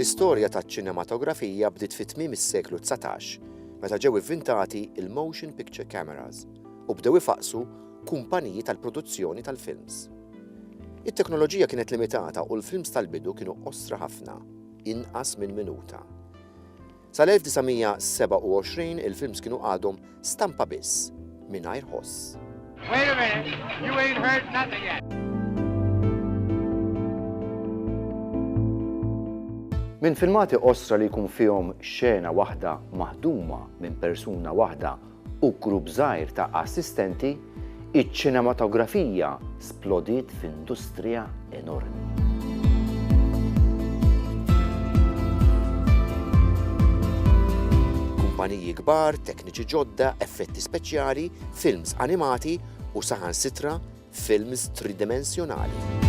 L-istorja taċ-ċinematografija bdiet fi tmiem is-seklu 19 meta ġew ivvintati il-motion picture cameras u bdew ifaqqsu kumpaniji tal-produzzjoni tal-films. It-teknoloġija kienet limitata u l-films tal-bidu kienu qosra ħafna, inqas minn minuta. Sal-1927 il-films kienu għadhom stampa biss, mingħajr ħoss. Wait a minute, you ain't heard nothing yet. Minn filmati qosra li jkun fihom xena waħda maħduma minn persuna waħda u grupp żgħir ta' assistenti, iċ-ċinematografija splodiet f'industrija enormi. Kumpaniji kbar, tekniċi ġodda, effetti speċjali, films animati u saħansitra films tridimensjonali.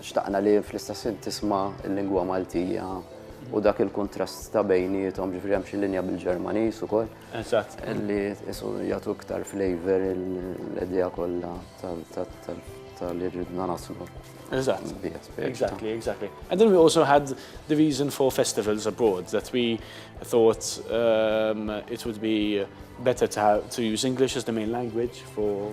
Xtaqna li fl-istess ħin tisma' l-lingwa Maltija u dak il-kuntrast ta' bejniethom, ġifieri hemm xi linja bil-Ġermaniż ukoll. Eżatt. Li qisu jagħtu iktar flavour l-idea kollha ta' li ridna naslu. Eżatt. Exactly, exactly. And then we also had the reason for festivals abroad that we thought it would be better to use English as the main language for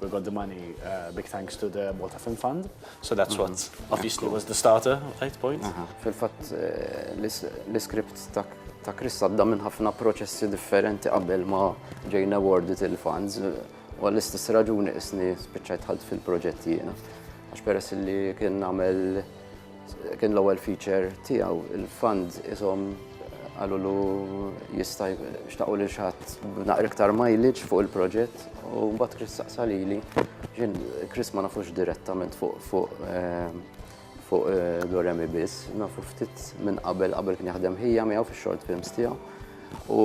we got the money uh, big thanks to the Malta Film Fund. So that's what uh-huh. obviously was the starter, right point? Uh-huh. Fil-fatt eh, l-iskript ta' Chris għadda minn ħafna proċessi differenti qabel ma ġejna awarded il-funds u għall-istess raġuni isni spiċċajt ħadd fil-proġett jiena. Għax peress li kien nagħmel Kien l-ewwel feature tiegħu, il-fans ishom qalulu jista' xtaqu lil xatt naqra iktar mileage fuq il-proġett u mbagħad Chris saqsa lili Chris ma nafux direttament fuq fuq eh, fuq eh, Doremi biss, nafu ftit minn qabel qabel kien jaħdem ħija miegħu fix-short films tiegħu. U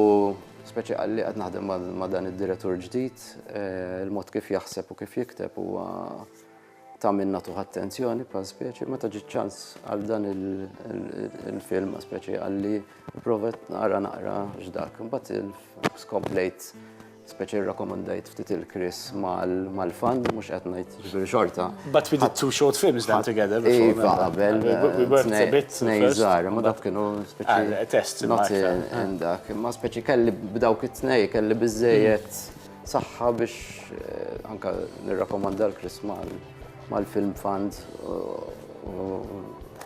speċi għalli qed naħdem ma' dan id-direttur ġdid, eh, il-mod kif jaħseb u kif jikteb huwa ta' min nagħtuh attenzjoni bħal speċi, meta ġiet ċans għal dan il-film speċi għalli provet naqra naqra x'dak. Imbagħad il-skomplejt speċi rakkomandajt ftit il-Kris mal-fan, mhux qed ngħid ġifieri xorta. But we did two short films then together. Iva, qabel. We worked a bit. Nejżar, ma dak kienu speċi. Ah, test. Not in dak. Ma speċi kelli b'dawk it-tnej, kelli biżejjed Saħħa biex anke nirrakkomanda l-Chris mal-Film Fund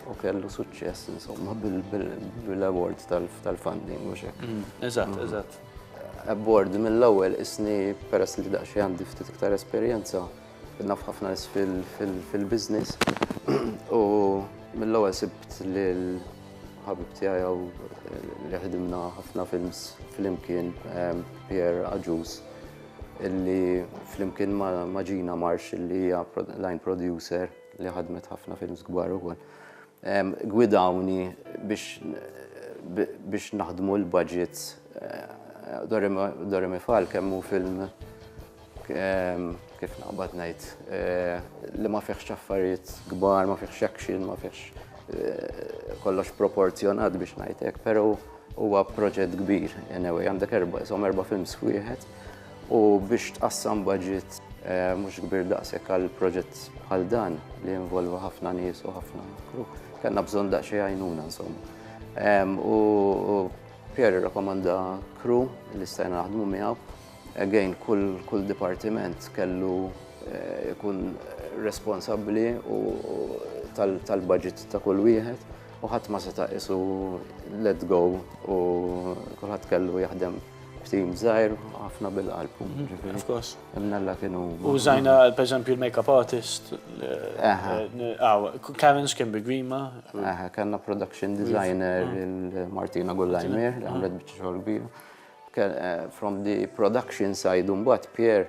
u kellu suċċess insomma bil-award tal-funding u xek. Mm, eżatt, mm. eżatt. Award mill-ewwel isni peress li daqsxejn għandi ftit iktar esperjenza Naf ħafna nies fil-business u mill-ewwel sibt lil ħabib tiegħi hawn li ħdimna ħafna films flimkien ehm, Pierre Aġus illi flimkien ma' Gina Marsh illi hija line producer li ħadmet ħafna films kbar ukoll. Gwidawni biex naħdmu l-budgets. Doremi Fal kemm hu film kif naqbad ngħid li ma fihx affarijiet kbar, ma fihx action, ma fihx kollox proporzjonat biex ngħid hekk, però huwa proġett kbir. Anyway, għandek erba' films f'wieħed. u biex tqassam budget mhux kbir daqshekk għal proġett bħal dan li jinvolva ħafna nies u ħafna kru, kellna bżonn daqsxejn għajnuna insomma. U Pierre rakkomanda kru li stajna naħdmu miegħu. Again, kull dipartiment kellu jkun responsabbli tal-budget ta' kull wieħed u ħadd ma seta' qisu let go u kulħadd kellu jaħdem F'tim żgħir ħafna bil-qalb. Mhm, of course. Imnalla kienu. Użajna per esempio il-makeup artist. Karen kien bi Grima. Aha, kellna production designer mhm. Martina Gullajmir, li għamlet mhm. biċċa xogħol kbir. Eh, from the production side, un bat Pierre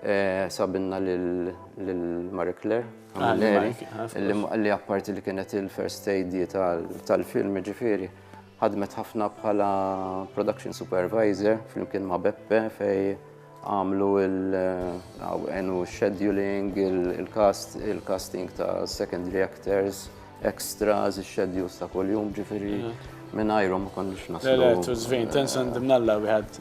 eh, sabinna l-Marie Claire, ah, li apparti li kienet il-first aid tal-film ġifiri, Ħadmet ħafna bħala production supervisor flimkien ma' Beppe fej għamlu għenu scheduling, il-casting ta' secondary actors, extras, il-schedules ta' kuljum ġifiri mingħajrhom ma konniex naslu. Le, le, it was vain, tensa ndimnalla wieħed.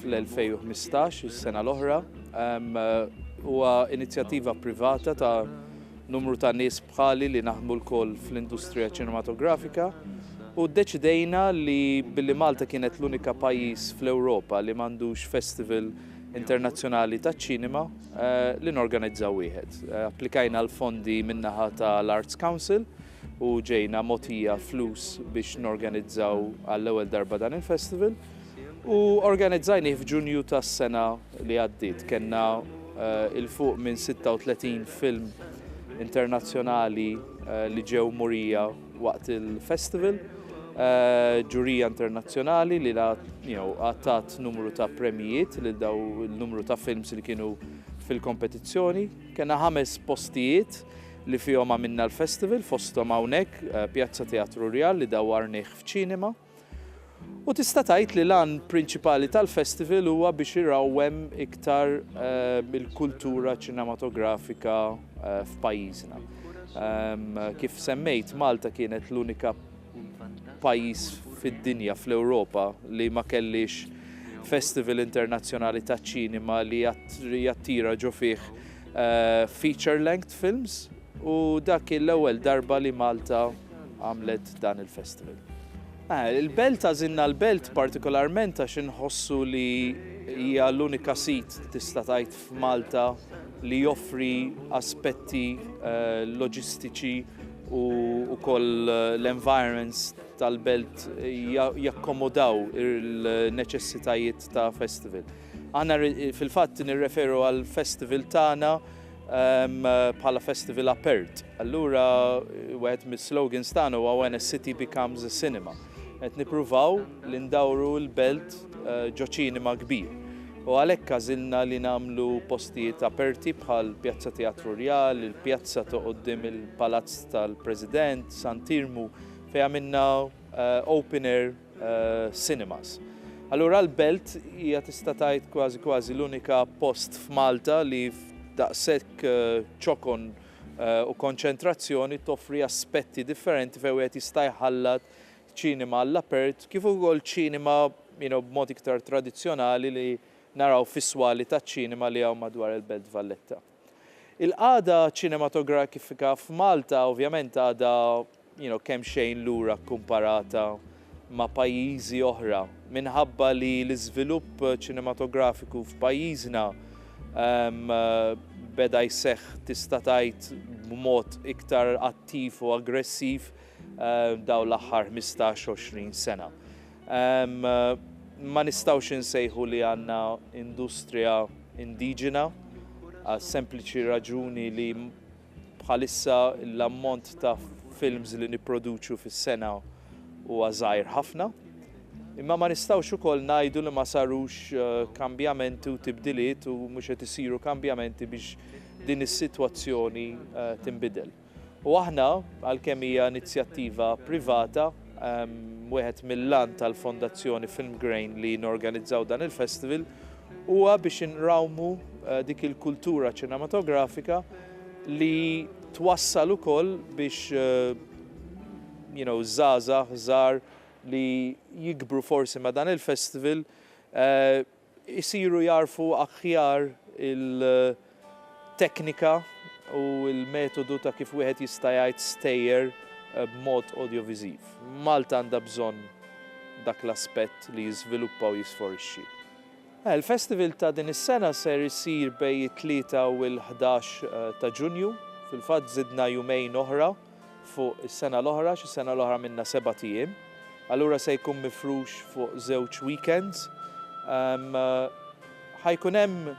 fl-2015, is-sena l-oħra. Huwa inizjattiva privata ta' numru ta' nies bħali li naħdmu lkoll fl-industrija ċinematografika u ddeċidejna li billi Malta kienet l-unika pajjiż fl-Ewropa li m'għandux festival internazzjonali taċ-ċinema eh, li norganizzaw wieħed. Eh, applikajna l-fondi min-naħa tal-Arts Council u ġejna mogħtija flus biex norganizzaw għall-ewwel darba dan il-festival u organizzajnih f'Ġunju tas-sena li għaddiet. Kenna eh, il fuq minn 36 film internazzjonali eh, li ġew murija waqt il-festival, eh, ġurija internazzjonali li għattat numru ta' premjijiet li daw il-numru ta' films li kienu fil-kompetizzjoni. Kenna ħames postijiet li fihom għamilna l-festival fosthom hawnhekk Pjazza Teatru Rjal li dawwarnih f'ċinema. U tista' tgħid li l-għan prinċipali tal-festival huwa biex irawwem iktar eh, il-kultura ċinematografika eh, f'pajjiżna. Ehm, kif semmejt, Malta kienet l-unika pajjiż fid-dinja, fl-Ewropa, li ma kellhiex festival internazzjonali taċ-ċinema li jattira ġo fih eh, feature length films u dak l-ewwel darba li Malta għamlet dan il-festival. Eh, il-belt għażilna l-belt partikolarment għax inħossu li hija l-unika sit tista' tgħid f'Malta li joffri aspetti loġistiċi u wkoll l-environments tal-belt jakkomodaw il-neċessitajiet ta' festival. Aħna fil-fatt nirreferu għall-festival tagħna bħala festival apert. Allura wieħed mis-slogans tagħna huwa When a City Becomes a Cinema. Qed nippruvaw li ndawru l-belt ġo ċinema kbir u għalhekk għażilna li nagħmlu postijiet aperti bħal Pjazza Teatru Rjal, il-pjazza ta' quddiem il-Palazz tal-President, Sant'Iermu fejn għamilna open air cinemas. Allura l-belt hija tista' tgħid kważi kważi l-unika post f'Malta li f'daqshekk ċokon u konċentrazzjoni toffri aspetti differenti fejn wieħed jista' jħallat ċinema għall-apert kif ukoll ċinema b'mod iktar tradizzjonali li naraw fis-swali taċ-ċinema li hawn madwar il-Belt Valletta. Il-qagħda ċinematografika f'Malta ovvjament għadha you know, kemxejn lura kkumparata ma' pajjiżi oħra minħabba li l-iżvilupp ċinematografiku f'pajjiżna um, beda jseħħ tista' tgħid b'mod iktar attiv u aggressiv uh, daw l-aħħar 15-20 sena. Um, ma nistawx insejħu li għanna industrija indiġena għal sempliċi raġuni li Bħalissa l-ammont ta' films li nipproduċu fis-sena huwa żgħir ħafna, imma ma nistgħux ukoll ngħidu li ma sarux kambjamenti u tibdiliet u mhux qed isiru kambjamenti biex din is-sitwazzjoni tinbidel. U aħna, għalkemm hija inizjattiva privata, wieħed mill-għan tal-Fondazzjoni Filmgrain li norganizzaw dan il-festival Huwa biex inrawmu dik il-kultura ċinematografika li twassal ukoll biex you know żgħażagħ żgħar li jikbru forsi ma' dan il-festival isiru jagħrfu aħjar il- teknika u l-metodu ta' kif wieħed jista' jgħid stejjer b'mod audio-viżiv. Malta għandha bżonn dak l-aspett li jiżviluppa u jisforixxi. Il-festival ta' din is-sena ser isir bejn it-Tlieta u l-Ħdax ta' Ġunju. Fil-fatt żidna jumejn oħra fuq is-sena l-oħra għax is-sena l-oħra għamilna sebat ijiem. Allura se jkun mifrux fuq żewġ weekends. Ħa jkun hemm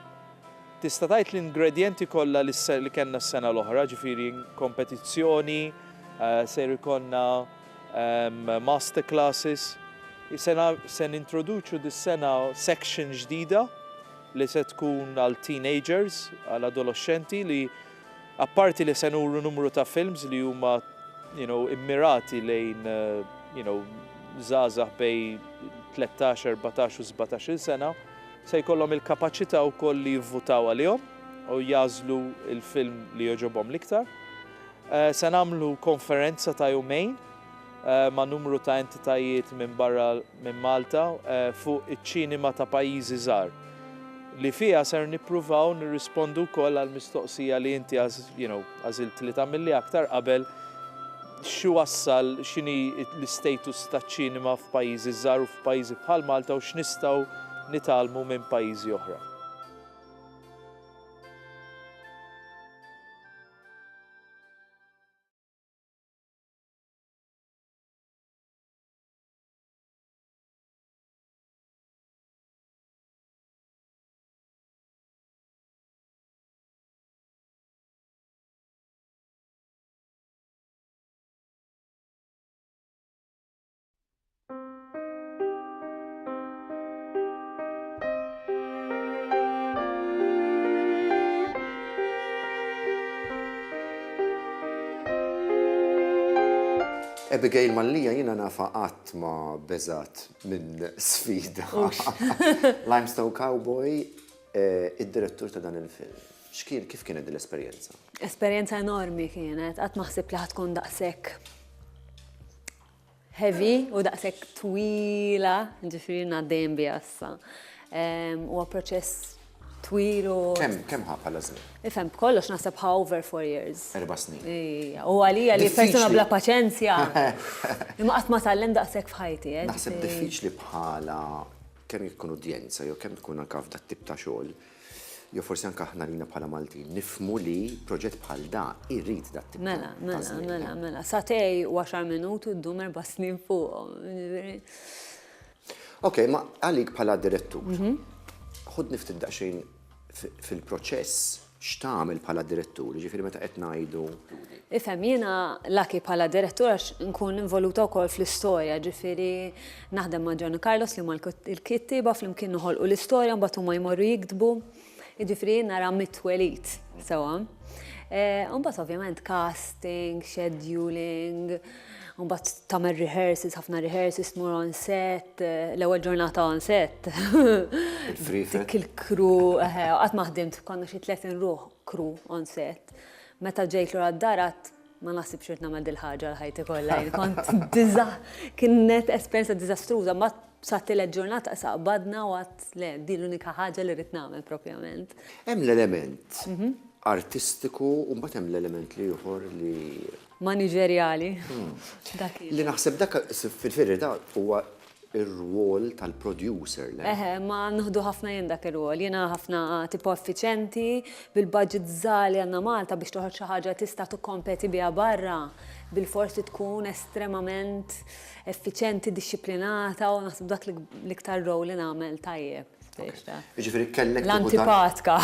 Tista' tgħid l-ingredjenti kollha li li kellna s-sena l-oħra, ġifieri kompetizzjoni, ser ikollna master classes, se se nintroduċu dis-sena section ġdida li se tkun għal teenagers, għal adoloxxenti li apparti li se nuru numru ta' films li huma you know immirati lejn you know żgħażagħ bejn tlettax, erbatax u sbatax-il sena, Se jkollhom il-kapaċità wkoll li jivvutaw għalihom u jagħżlu l-film li jogħġobhom l-iktar. Se nagħmlu konferenza ta' jumejn ma' numru ta' entitajiet minn barra minn Malta fuq iċ-ċinema ta' pajjiżi żgħar li fiha ser nippruvaw nirrispondu wkoll għall-mistoqsija li inti għażilt li tagħmilli aktar qabel X'iwassal, x'inhi l-istatus taċ-ċinema f'pajjiżi żgħar u f'pajjiżi bħal Malta u x'nistgħu nitgħallmu minn pajjiżi oħra. Abigail Mallija jina nafa qatt ma beżat minn sfida. Limestone Cowboy, eh, id-direttur ta' dan il-film. X'kien, kif kienet din l-esperjenza? Esperjenza enormi kienet, qatt ma ħsibt li ħa tkun daqshekk heavy u daqshekk twila, ġifieri ngħad dejjem biha issa. Ehm, huwa proċess twil u. Kemm kemm ħa bħala żmien? Ifhem b'kollox naħseb ħa over four years. Erba' snin. Ija, u għalija li Diffiċli. persuna bla paċenzja. Imma qatt ma tgħallem daqshekk f'ħajti, eh, Naħseb ġifieri- diffiċli bħala kemm jkun udjenza jew kemm tkun anka f'dat tip ta' xogħol, jew forsi anke aħna lina bħala Maltin nifhmu li proġett bħal da jrid dat tip Mela, mela, mela, mela, satej u 10 minuti u ddum erba' snin fuqhom. Jiġifieri. Ok, ma għalik bħala direttur. Mhm. Ħud niftit daqsxejn fil-proċess x'tagħmel bħala direttur, jiġifieri meta qed ngħidu. Ifhem, jiena laki bħala direttur għax nkun involuta wkoll fl-istorja, ġifieri Naħdem ma' John u Carlos li huma l-kittieba flimkien noħolqu l-istorja mbagħad huma jmorru jiktbu. Jiġifieri jien nara mit-twelid sewwa. Eh, mbagħad ovvjament casting, scheduling, mbagħad tagħmel rehearsals, ħafna rehearsals tmur on set, eh, l-ewwel ġurnata on set. Dik il-kru, eh, qatt ma ħdimt konna xi 30 ruħ kru on set. Meta ġejt lura d-darat Ma naħsibx ridt nagħmel dil-ħaġa għal ħajti kollha jien kont diża kienet esperjenza diżastruża mbagħad sa tielet ġurnata issa qbadna u għadt le din l-unika ħaġa li ridt nagħmel propjament. Hemm l-element artistiku u mbagħad hemm l-element l-ieħor li. Maniġerjali. Dak. Li naħseb dak fil-verità huwa ir-rwol tal-producer, le? Eħe, imma nieħdu ħafna jien dak ir-rwol. Jiena ħafna tipo effiċjenti, bil-budget żgħar li għandna Malta biex toħroġ xi ħaġa tista' tikkompeti biha barra, bilfors trid tkun estremament effiċjenti, dixxiplinata u naħseb dak l-iktar role li nagħmel tajjeb. Jiġifieri kellek l-antipatka.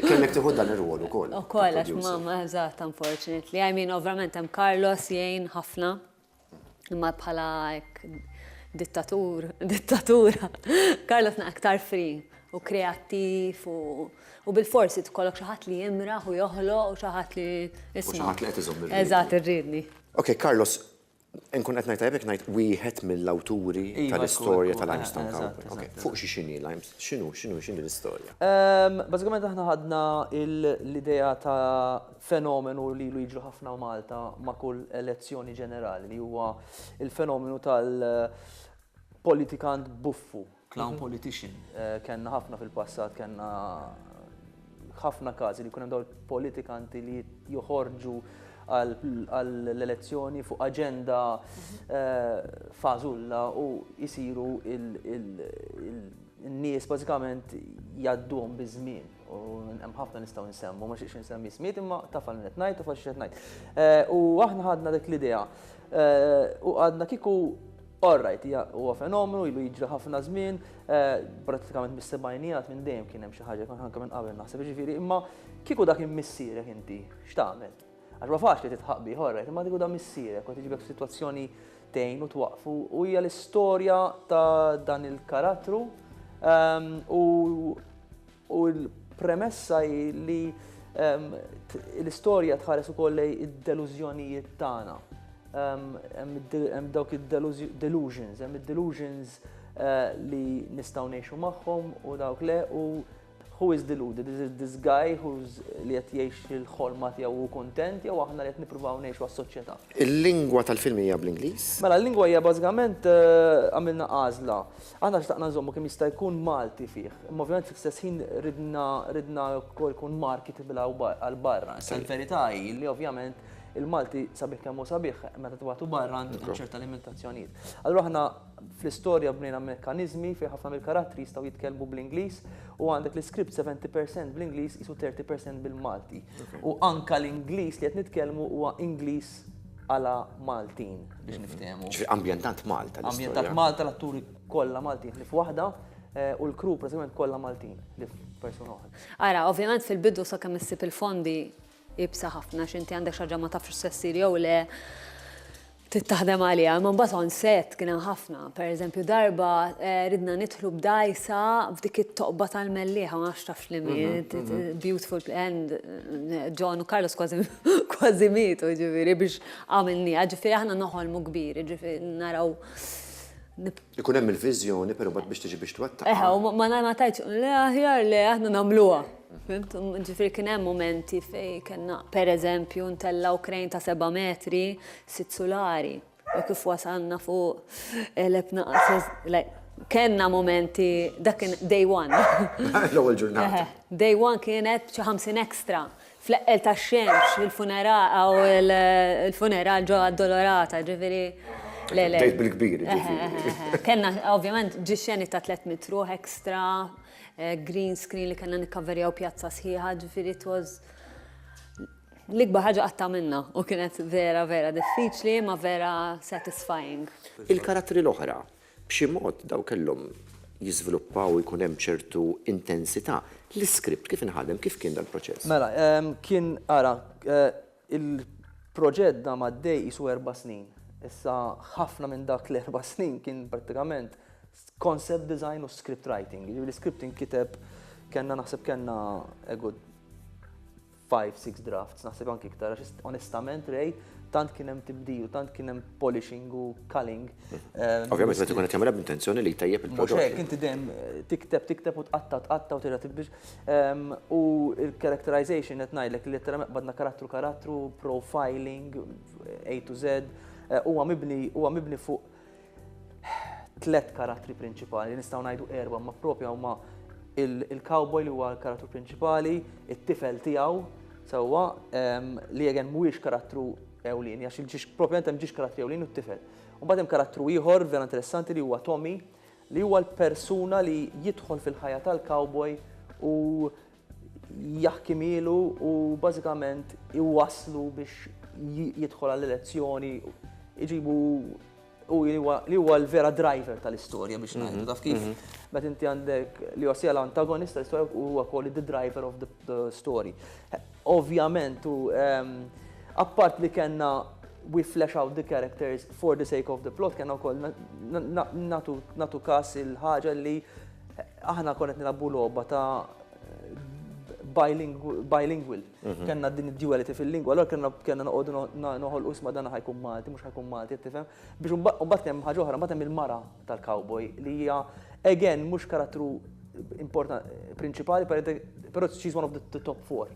Kellek tieħu dan ir-rwol ukoll. Ukoll għax mamma eżatt unfortunately. I mean, ovvjament hemm Carlos jgħin ħafna. Imma bħala hekk dittatur, dittatura, Carlos na aktar free u kreattiv u bil-forsi tkollok xi ħadd li jimraħ u joħloq u xi ħadd li isma'. Xi ħadd li qed iżomm irridni. Eżatt, irridni. Ok, Carlos, inkun qed ngħid tajjeb jekk ngħid wieħed mill-awturi tal-istorja ta' Limestone Cowboy. Ok, fuq xi x'inhi Limestone, x'inhu, x'inhu, x'inhi l-istorja? Bażikament aħna ħadna l-idea ta' fenomenu li ilu jiġri ħafna Malta ma' kull elezzjoni ġenerali li huwa il-fenomenu tal-politikant buffu, clown mhm. politician. Eh, kenna ħafna fil-passat, kenna ħafna każi li kunem daw il-politikanti li joħorġu għall-elezzjoni fuq aġenda mhm. eh, fażulla u jisiru il- n-nies bażikament jaddum biż-żmien. U hemm ħafna nistgħu nsemmu, ma xiex nsemmi smiet imma taf għal qed ngħid u fax qed ngħid. Eh, u aħna ħadna dik l-idea. Eh, u għadna kiku Alright, huwa fenomenu, ilu jiġri ħafna żmien, eh, pratikament mis-sebajnijat minn dejjem kien hemm xi ħaġa kon ħanka minn qabel naħseb ġifieri, imma kieku dak imissierek inti, x'tagħmel? Għax ma faċli titħaq bih, alright, imma kieku da missierek u tiġibek f'sitwazzjoni tgħin u twaqfu u hija l-istorja ta' dan il-karattru ehm, u U l-premessa hi li ehm, l-istorja tħares ukoll lej id-delużjonijiet tagħna. Ehm, hemm dawk id-delusions, hemm id-delusions eh, li nistgħu ngħixu magħhom u dawk le u who is deluded? Is it this guy who's li qed jgħix il-ħolma tiegħu u kontent jew aħna li qed nippruvaw ngħixu għas-soċjetà? Il-lingwa tal-film hija bl-Ingliż? Mela l-lingwa hija bażikament eh, għamilna għażla. Aħna xtaqna nżommu kemm jista' jkun Malti fih, imma ovvjament fl-istess ħin ridna ridna wkoll ikun market bil għal barra. Issa l-verità hi li ovvjament il-Malti sabiħ kemm hu sabiħ, meta tibagħtu barra għandu jkun hemm ċerta limitazzjonijiet. Allura aħna fl-istorja bnejna mekkaniżmi fejn ħafna mill-karattri jistgħu jitkellmu bl-Ingliż u għandek l-iskript seventy percent bl-Ingliż qisu thirty percent bil-Malti. U anke l-Ingliż li qed nitkellmu huwa Ingliż għala Maltin biex niftehmu. Ġifieri ambjentat Malta. Ambjentat Malta l-atturi kollha Maltin li f'waħda eh, u l-kru pratikament kollha Maltin li f'persuna oħra. Ara, ovvjament fil-bidu sakemm issib il-fondi ibsa ħafna x'inti għandek xaġa ma tafx se ssir jew le tittaħdem għalija, ma mbagħad on set kien hemm ħafna. Pereżempju darba eh, ridna nidħlu b'dajsa f'dik it-toqba tal-mellieħa ma nafx tafx li mhm, mhm. beautiful end eh, John u Carlos kważi kważi mietu ġifieri biex għamilniha, ġifieri aħna noħolmu kbir, ġifieri naraw. Ikun hemm il-viżjoni però bad biex tiġi biex twettaq. Eħe, u ma ma tajtx le aħjar le aħna nagħmluha. Ġifieri kien hemm momenti fejn kellna pereżempju ntellgħu krejn ta' seba' metri sitt sulari. U kif wasalna fuq elep naqas. Kenna momenti, dak kien day one. L-ewwel ġurnata. Day one kienet xi 50 extra. Fl-eqqel tax-xemx, il-funeral ġo Addolorata, ġifieri. Bdejt bil-kbir, ġifieri. Kenna, ovvjament, ġie xeni ta' 300 ruħ extra, green screen li kellna nikkaverjaw pjazza sħiħa, ġifieri it was. L-ikbar ħaġa qatt għamilna u kienet vera vera diffiċli imma vera satisfying. Il-karattri l-oħra, b'xi mod daw kellhom jiżviluppaw u jkun hemm ċertu intensità. L-iskript kif inħadem, kif kien dal-proċess? Mela, kien, ara, il-proġett dam għaddej qisu erba' snin. Issa ħafna minn dak l-erba' snin kien prattikament concept design u script writing. Jiġifieri l-iskript inkiteb, kellna naħseb kellna a good five, six drafts, naħseb anki iktar, għax onestament rej, tant kien hemm tibdil, tant kien hemm polishing u culling. Eh, Ovvijament, meta tkun qed tagħmilha b'intenzjoni li tajjeb il-prodott. Mhux hekk, inti dejjem eh, tikteb, tikteb u tqatta, tqatta u tira tibdil. Ehm, u il-characterization qed ngħidlek li letteralment badna karattru karattru, profiling, A to Z, eh, huwa mibni, huwa mibni fuq tliet karattri prinċipali, nistgħu ngħidu erba' ma propja huma il-cowboy li huwa l-karattru prinċipali, it-tifel tiegħu, sewwa li jegen mhuwiex karattru ewlin, għax il-ġiex propjament hemm ġiex karattri ewlin u t-tifel. Mbagħad hemm karattru ieħor vera interessanti li huwa Tommy, li huwa l-persuna li jidħol fil-ħajja tal-cowboy u jaħkimielu u bażikament iwasslu biex jidħol għall-elezzjoni, iġibu u li huwa l-vera driver tal-istorja biex mhm. ngħidu taf kif. Mhm. Meta inti għandek li huwa sejja l-antagonist tal-istorja u huwa wkoll the driver of the story. Ovvjament u ehm, appart li kellna we flesh out the characters for the sake of the plot kellna wkoll natu kas il-ħaġa li Aħna konet nilabbu logħba ta' bilingual. Mhm. Kenna din id-duality fil-lingwa, allora kenna kenna noqogħdu noħol usma dan ħajkun Malti, mhux ħajkun Malti, tifhem? Biex mbagħad kemm ħaġa oħra, mbagħad hemm il-mara tal-cowboy li hija again mhux karattru importanti prinċipali, però she's one of the top four.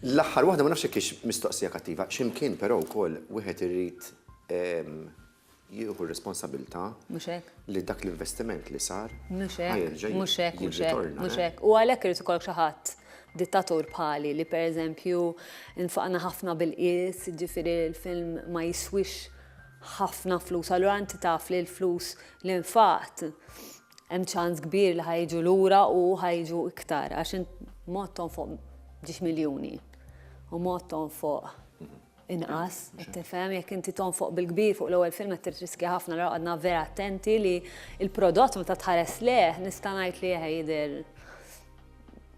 L-aħħar waħda ma nafx kiex mistoqsija kattiva, x'imkien però wkoll wieħed irid ehm, jieħu r-responsabilità li dak l-investiment li sar ħa jerġa' jirritorna. Mhux hekk. U għalhekk irid ikollok xi ħadd dittatur bħali li pereżempju nfaqna ħafna bil-qies, jiġifieri l-film ma jiswix ħafna flus, allura inti taf li l-flus li nfaqt hemm ċans kbir li ħa jiġu lura u ħa jiġu iktar għax int mod tonfoq ġiex miljuni u mod tonfoq inqas, qed tifhem, jekk inti tonfoq bil-kbir fuq l-ewwel film qed tirriskja ħafna l għadna vera attenti li l-prodott meta tħares leh nista' ngħid li eħe jidher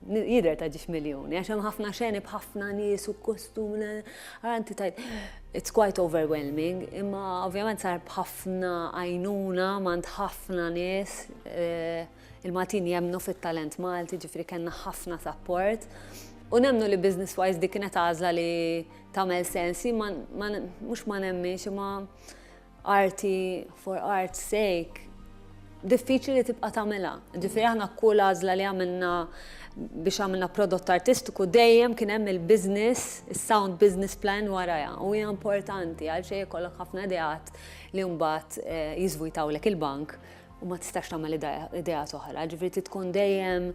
jidher ta' ġiex miljuni, għax hemm ħafna xeni b'ħafna nies u kostum, għanti tajt, it's quite overwhelming, imma ovvjament sar b'ħafna għajnuna mand ħafna nies. Eh, Il-Maltin jemmnu fit-talent Malti, ġifieri kellna ħafna sapport. U nemmnu li business wise dik kienet għażla li tagħmel sens, mhux ma nemminx imma arti for art's sake diffiċli li tibqa' tagħmilha. Ġifieri aħna kull għażla li għamilna biex għamilna prodott artistiku dejjem kien hemm il-business, is-sound business plan warajha u hija importanti għal xejn ikollok ħafna ideat li mbagħad jiżvujtawlek il-bank u ma tistax tagħmel ideat oħra, ġifieri trid tkun dejjem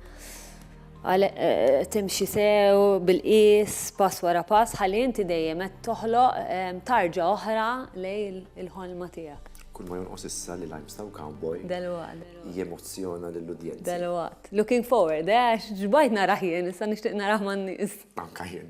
eh, timxi sew bil-qis pass wara pass ħalli inti dejjem qed toħloq eh, tarġa oħra lejn il-ħolma tiegħek. Kull ma jonqos issa li lajm staw cowboy. Dalwaqt. Jemozzjona lill-udjenza. Dalwaqt. Looking forward, eh, għax ġbajt naraħ jien, issa nixtieq naraħ man-nies. Anka jien.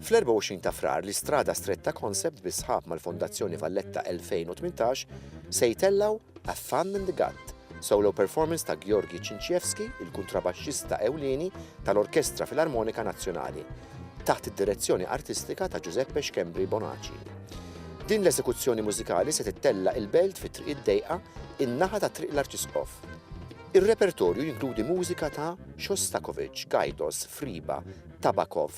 Fl-24 ta' Frar l-Istrada Stretta Concept bis-sħab mal-Fondazzjoni Valletta 2018 se jtellgħu A Fun in the Gut, solo performance ta' Georgi Cinciewski, il-kuntrabaxxista ewlieni tal-Orkestra Filarmonika Nazzjonali, taħt id-direzzjoni artistika ta' Giuseppe Schembri Bonaci. Din l-eżekuzzjoni mużikali se tittella' il-belt fi Triq id-Dejqa, in-naħa ta' Triq l-Arċisqof. Ir-repertorju jinkludi mużika ta' Shostakovich, Gajdos, Friba, Tabakov,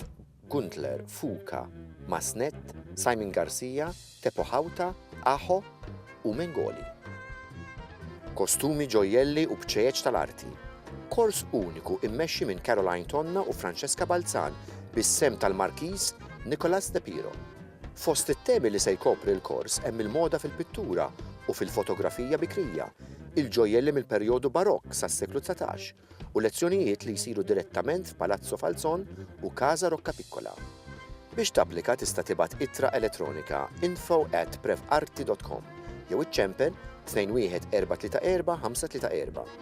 Gundler, Fuka, Masnett, Simon Garcia, Teppo Hauta, Aho u Mengoli. Kostumi, ġojjelli u bċejjeċ tal-arti. Kors uniku immexxi minn Caroline Tonna u Francesca Balzan bis-sehem tal-Markiż Nicholas De Piro. Fost it-temi li se jkopri l-kors hemm il-moda fil-pittura u fil-fotografija bikrija, il-ġojjelli mill-perjodu Barokk sas-seklu dsatax, u lezzjonijiet li jsiru direttament f'Palazzo Falzon u Casa Roccapiccola. Biex tapplika tista' tibgħat ittra elettronika info at prevarti dot com jew iċċempel 21434 534.